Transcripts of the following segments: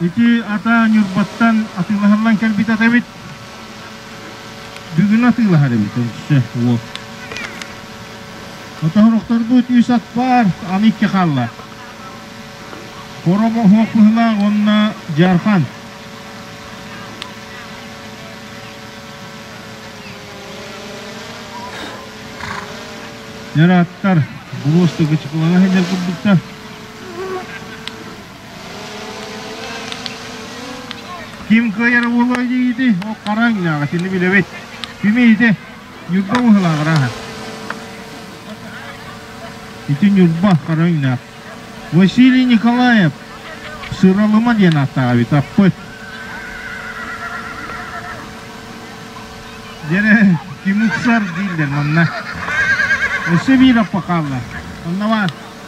Ити атаа Ньурбаттан атыылаһыллан кэлбит ата эбит. Бүгүн атыылаһар эбит өссө уол. Моторохторбут үс ат баар, аны икки хаалла. Хором оһуох быһылаах уонна жархан. Яраттар булуостуга чыкылана сылдьар курдуктар. Ким кыайар буолуой диигити, ол хараҥ инээҕи сини билэбит. Ким иите Ньурба уһалааҕара аһа. Ити Ньурба хараҥ инээх. Василий Николаев Сыралыма диэн ааттаах эбит аппыт. Дere Kimukсар дииллэр манна. Өссө биир аппа хаалла. Онна бар.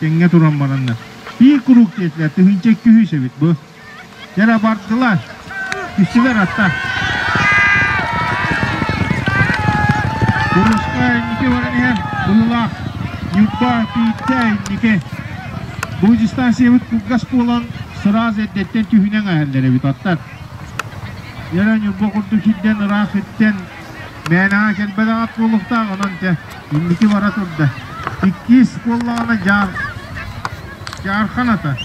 Тэҥҥэ туран бараннар, биир куруук диэтилэр, тыһыынча икки сүүс эбит бу. Дьэ, бардылар. Түстүлэр атта. Курушка инники баран иһэн, быһылаах Ньурба Тииттэ инники. Бу дистанциябыт кылгас буолан, сыраас эрдэттэн түһүнэн эһэллэр эбит аттар. Дьэ, Ньурба курдук сирдэн ыраах иттэн, мээнэҕэ кэлбэтэх ат буолуохтаах онон тэ. Инники бара турда. Иккис буоллаҕына Дьаар Дьаарханата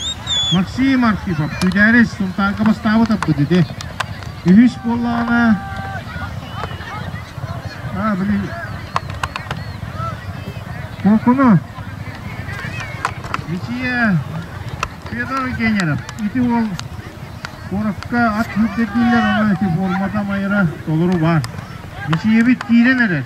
Максим Архипов Күдээрис Сунтаарга бастаабыт аппыт ити. Үһүс буоллаҕына а, блин Кокуну Мичия Федор Генеров ити ол Корокка ат үрдэтииллэр, ону эти формата майыра толору бар. Мичиебит киирэн эрэр.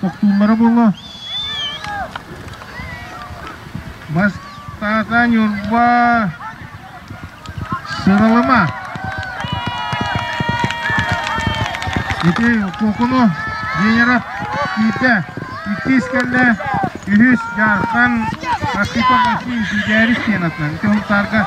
Тохтууллара буолла. Бастата Ньурба сыралама. Ити Кокуну Генеров киирдэ. Иккис кэллэ. Үһүс Дьаархан Акипов России Дидээрис сиэнатынан. Ити Хунтаарга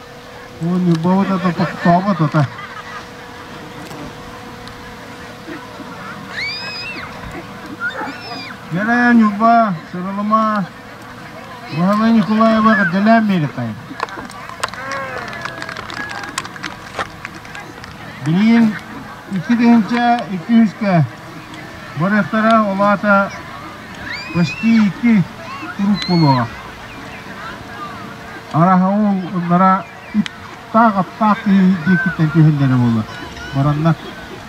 Уон Любовна да тохтообот ата. Герая Люба, Сыралыма, Благовой Николаева Гадалян Беретай. Билигин икки тыһынча икки үһүскэ барыахтара олаата почти икки турук буолуоҕа. Арааһа ол ыннара иттаах-аптаах киһи диэкиттэн түһэллэрэ буолла бараннар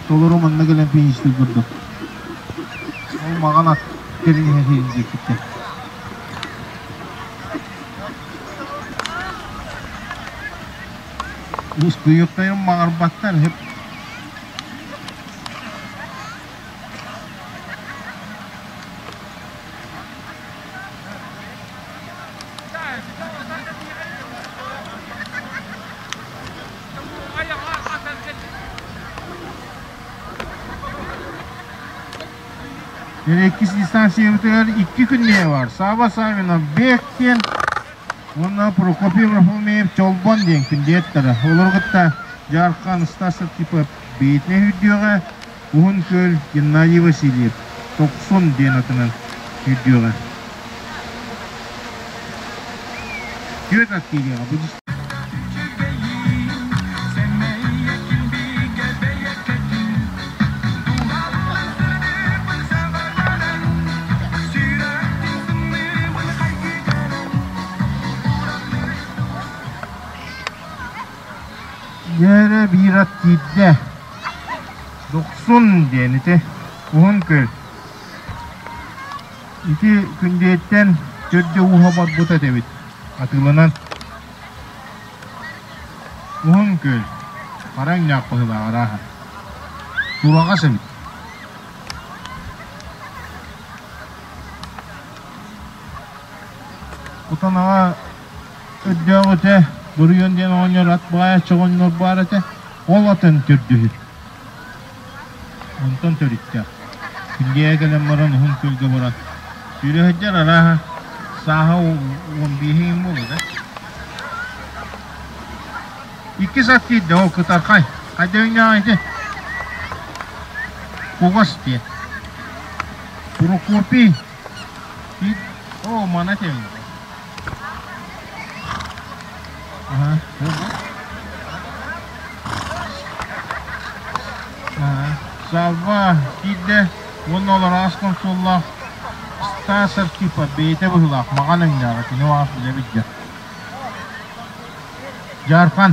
толору манна кэлэн пеньюстик көрдө ол маҕан ат кэлин иһэ сиһин диэкиттэн ускуйуктайым маҕарбаттар иһип Иккис дистанциябытыгар икки күннэһэ бар. Саба Савинов Бек диэн уонна Прокопий Варфоломеев Чолбон диэн күндүөттэрэ. Олору кытта Жархан Стаса типа бэйэтинэ үрдүөҕэ Уһун Күөл Геннадий Васильев Тохсон диэн атынан сүүрдүөҕэ. Түөрт аттыыгыаҕа бу Дьиэрэ биир ат киирдэ, «Дохсун» диэн ити уһун күл. Ити Күндээттэн төрдө ууһа барбыт эт эбит атыыланан. Уһун күл, хараҥ ньаах быһыылаах арааһа. Сураҕас эбит. Кутанаҕа көрдөөх этэ, буруйун диэн оҕонньор ат баайаччы оҕонньор баар этэ, ол атын төрдүһүт. Онтон төрүттээх. Күндиэгэ кэлэн баран уһун күөлгэ баран сүүрөһөрдөр арааһа сааһа уон биэһэ им буолар ээ. Иккис ат киирдэ ол кытархай. Хайда үннэҕэ ити? Кугас диэн. Прокопий Оо, мана кэллэ. Аһа, ого. Аһа, салва, киирдэ уонна ол араас консоллаах Стас Архипа бэйэтэ быһыылаах маҕан эҥнээҕэ кини араас билэ билдэ. Дьаархан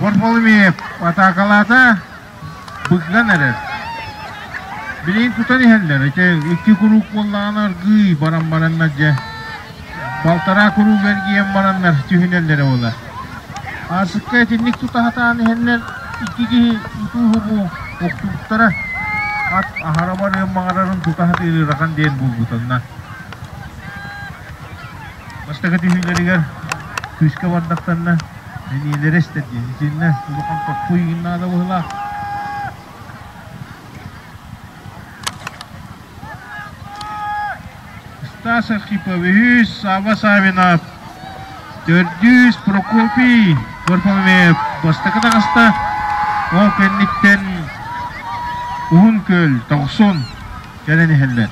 Борболуми атаакалаата быгган эрэр. Билин кутан иһэллэр. Ите икки куруук буоллаҕына аргыы баран бараннар дьэ балтараа куруук эргийэн бараннар түһүнэллэрэ буолар. Артыкка итинник тутаһатаан иһэллэр икки киһи утуу-хубуу охтубуттара. Ат аһара барыан маҕарарын тутаһатыыр ырахан диэн булгутанна. Бастакы түһүүлэригэр күүскэ бардахтанна, мэниэлэрэ истэрдиэ. Итиэннэ улахан хоппу иин наада быһылаах. Стас Архипович, Сава Савинов, төрдүс Прокопий Горбамев бастакы таҕыста. Ол кэнниттэн Уһун Күөл Тохсун кэлэн иһэллэр.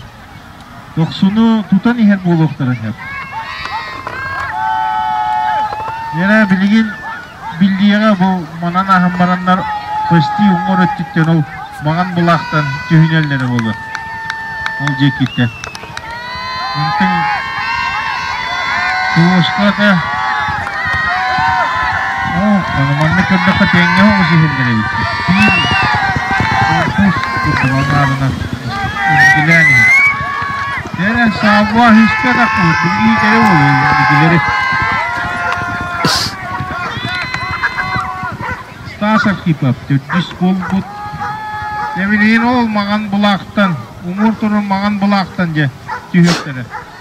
Тохсуну тутан иһэр буолуохтара сөп. Лера билигин биллиэҕэ бу манан аһан бараннар почти уҥуор өттүттэн ол баҕан былаахтан түһүнэллэрэ буолуо. Ол диэкиттэн. Онтон Сулуошка да оо, аны маннык көрдөххө тэҥҥэ оҕус иһэллэр эбит. Тиин корпус курдук аҥаарынан Иккилээн иһэр. Кэрэ сааба истэҕэ курдук иитэрэ уолун икилэри. Стаса Кипов төрдүс буолбут. Тэбилиин ол маҥан былаахтан, умур турун маҥан былаахтан дьэ түһүөхтэрэ.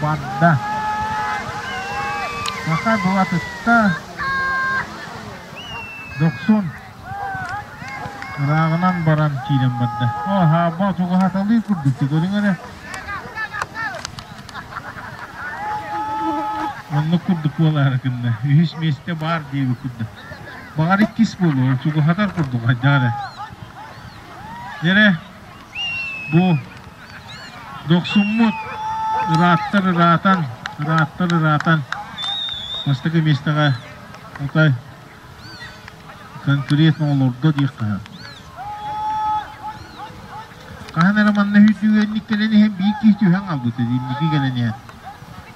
Барда: «Саха дуотыттан дохсун ырааҕынан баран киирэн барда. Оо, Аабба чугаһаталыы курдук көрүҥ эрэ. Оннук курдук буолаары гынна. Үһүс миэстэ баар диэбит курдук. Баҕар иккис буолуо, чугаһатар курдук хайдах эрэ. Дьэрэ, Бу дохсуммут ырааттар ыраатан, ырааттар ыраатан бастакы миэстэҕэ Атай конкурент оҕолордо диэххэ хаһан эрэ манна үтүгэнник кэлэн иһэн биир киһи түһэн хаалбыт инники кэлэн иһэн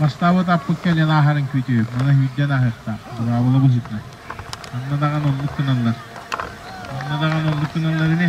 Бастаабыт аппыт кэлэн ааһарын күтү, мана сүүрдэн ааһыахтаах, бураабыла быһыыта. Ханна даҕаны оннук гыналлар. Ханна даҕаны оннук гыналлар ини.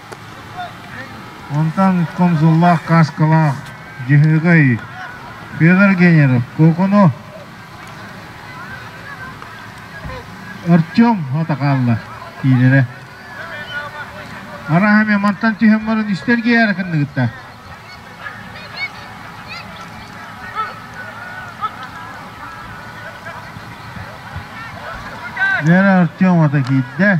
Онтон комзоллаах кааскалаах дьаһыгай Федор Генеров Кокону Артем хата хаалла иилэрэ Араһа эмиэ мантан түһэн баран истэргиэри кынныгытта Лера Артем ата киирдэ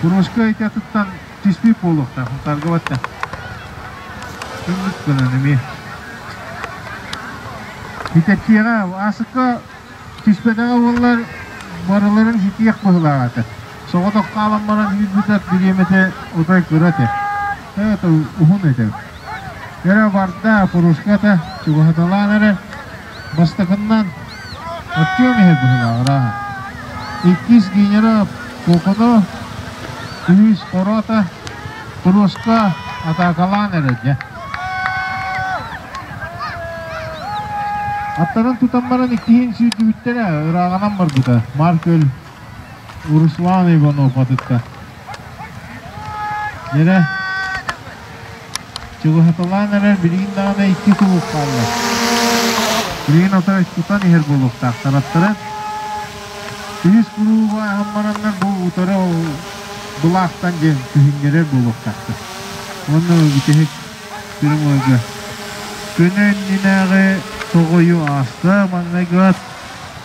Курошка ити атыттан чистии буолуохтаахпын харгыбатта. Кымыс гынан эмиэ. Китэпсиэҕэ, аасыкка түспэтэҕэ буоллар, барыларын ситиэх быһылаах этэ. Соҕотох хаалан баран сүүрбүтэр дириэмэтэ отой кыра этэ. Тото уһун этэ. Кэрэ барда, Курошката чугаһаталаан эрэ, Бастакыннан, Артем иһэр быһыылааҕырааһа. Иккис Генерал Коконов, үһүс Орота, туруоска атаакалаан эрэ дьэ. Аттарын тутан баран иккиһин сүүрдүбүттэрэ, ырааҕанан барбыта. Маркөл Руслан Иванов атыттар. Дьэрэ, чугаһаталаан эрэр билигин даҕаны икки кулууп хаалла. Билигин атара кутан иһэр буолуохтаахтар аттара. Үһүс кулуубу аһан бараннар бу утары былаахтан диэн күһүннэрэр буолуохтаахтар. Уонна бүтэһик сүрүн майга. Күнү иннинээҕи тоҕойу ааста, маҥнайгыат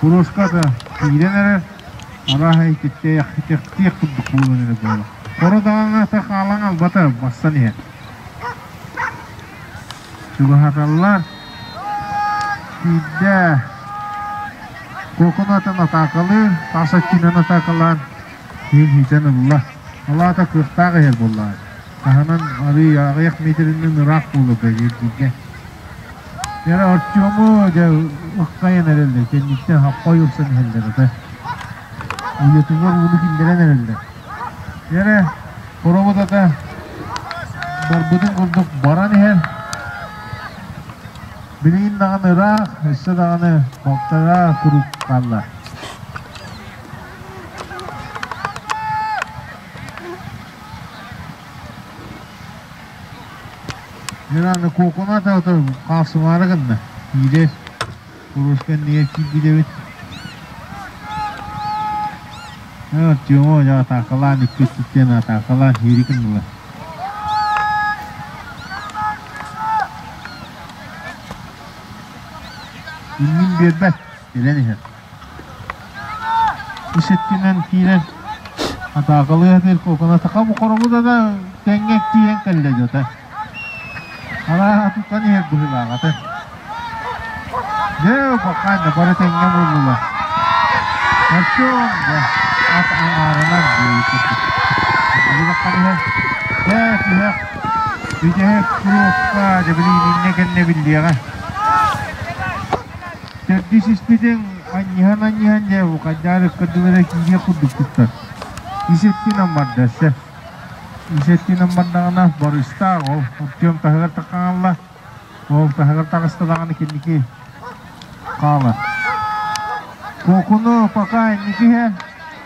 Курууската киирэн эрэр, арааһа итиктиэх курдук буолан эрэр буолла. Хоро даҕаҥата хаалан албата бассан иһэр. Чугаһаталлар. Киирдэ. Кокунатын атаакалыыр, таас өттүнэн атаакалаан күөл иһитэн ылла. Алаата кыахтаах иһэр буоллаҕа. Таһынан арыый аҕыйах метринэн ыраах буолар дииргэ. Кэрэ Артему дьэ ыксайан эрэллэр, кэнниттэн хаппай ылсан иһэллэр ата. Уйатыгар ууну киллэрэн эрэллэр. Кэрэ хоробутата барбытын курдук баран иһэр. Билигин даҕаны ыраах, өссө даҕаны балтара куруук хааллар. Геннадий Кокунат ото хаапсымаары гынна. Киирэс куруушка иннигэр киирбитэбит. Артема атаакалаан икки өттүттэн атаакалаан сиэри гыннылар. Иннин биэрбэт, кэлэн иһэр. Иситтинэн киирэн атаакалыы атыыр куокуна саха бу хороҥута да тэҥҥэ тиийэн кэллэ дьата араа атыттан иһэр быһыылааҕата дьэ ханна бары тэҥҥэ муннулар сарсыон да ат аҥаарынан буойут курдук билигин аххан иһэ бээ түһэх бүтэһик куруопка дьэ билигин иннэ кэннэ биллиэҕэ Сэрдисиспитин анньыһан-анньыһан дьэ Букайдаарыпка дылы киириэх курдук туттар. Ис өттүнэн бардасса. Ис өттүнэн бардаҕына барыстаах ол Артем таһыгар таҕаалла. Ол таһыгар таҕыста даҕаны киники хаалар. Кокуну пока инники иһэ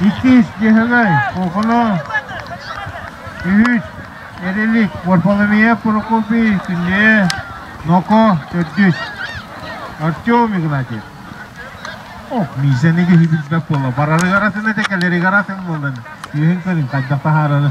Иккис Дьэһэҥэй, Куокуна, үһүс Эрилик, Варфоломея Прокопий, Күннэйэ Нoko, төрдүс Артем Игнатьев. Ох, Миисэни киһи билбэт буолла. Барарыгар атын этэ, кэлэригэр атын буоллан, күһүн көрүн хайдах таһаарары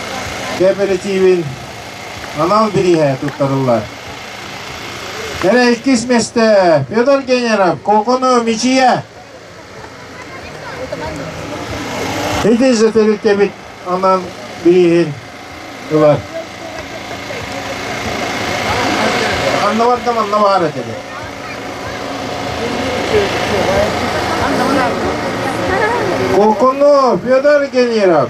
кээпэрэтиибин анал бирииһэ туттарыллар. Кэрэ иккис месте Петр Генеров Кокону мичийэ. Ити за тэрилтэбит анал бирииһин ылар. Анна бардам анна баар этеді. Кокону Петр Генеров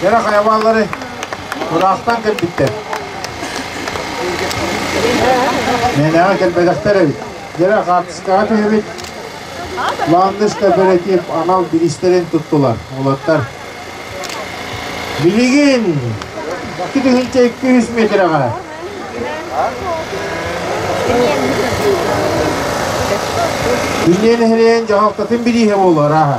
Кэрэ хайабааллары тураахтан кэлбиттэр. Мeenэҕэ кэлбэтэхтэр эбит. Дьэрэ хаартыскаҕа түһэбит. Ландыш кооператив анал бириистэрин туттулар. Олаттар. Билигин 2,200 метрega. Үннен нэһилиэн дьаһалтатын бирииһэ буолар аха.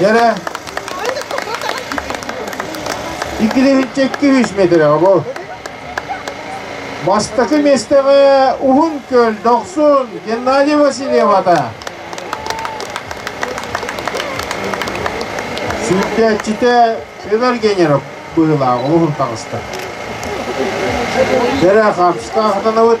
Дьэрэ, иккилиһинчэ икки сүүс миэтирэҕэ бу. Бастакы миэстэҕэ Уһун Күөл дохсун Геннадий Васильевата. Сүрдээччитэ Өлөр Генеров быһылаах олуһун таҕыста. Бэрэ хапсыктаахытанабыт.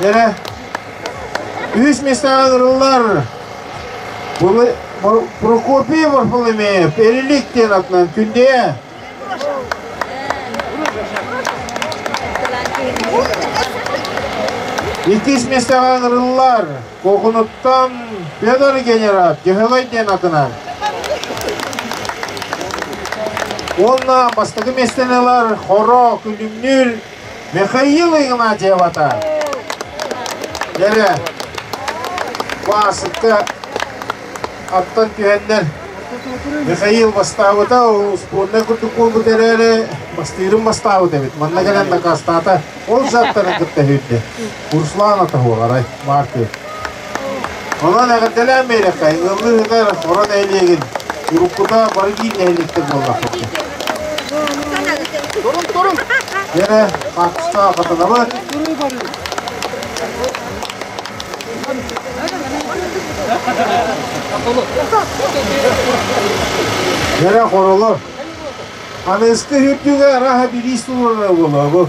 Дэрэ, үһүс местаҕа ырыллар Прокопий Варфоломеев Эрилик диэн атынан күндүэ. Иккис местаҕа ырыллар Кокунуттан Федор генерал Дьөһөгөй диэн атынан. Уонна бастакы местен ылар Хоро күлүмнүүр Михаил Игнатьевата кэрэ баасыкка аттан түһэннэр Михаил бастаабыта успуорнай курдук буолбут эрээри бастыырын бастаабыт эбит манна кэлэн дакаастаата ол заттарын кытта үһүрдэ Руслан атаһыаларай Маркы Онон эҕэрдэлээн биэрэххэ, ыаллыыһытар Хоро нэһилиэгин, уруккута Бородиир нэһилиэктэр буоллахтар. Турун, турун! Дэрэ, Хапсқа хатанабыт. Дэрэ хоролор. Аны ысты үрдүгэ араха бириис туруорара буолуо бу.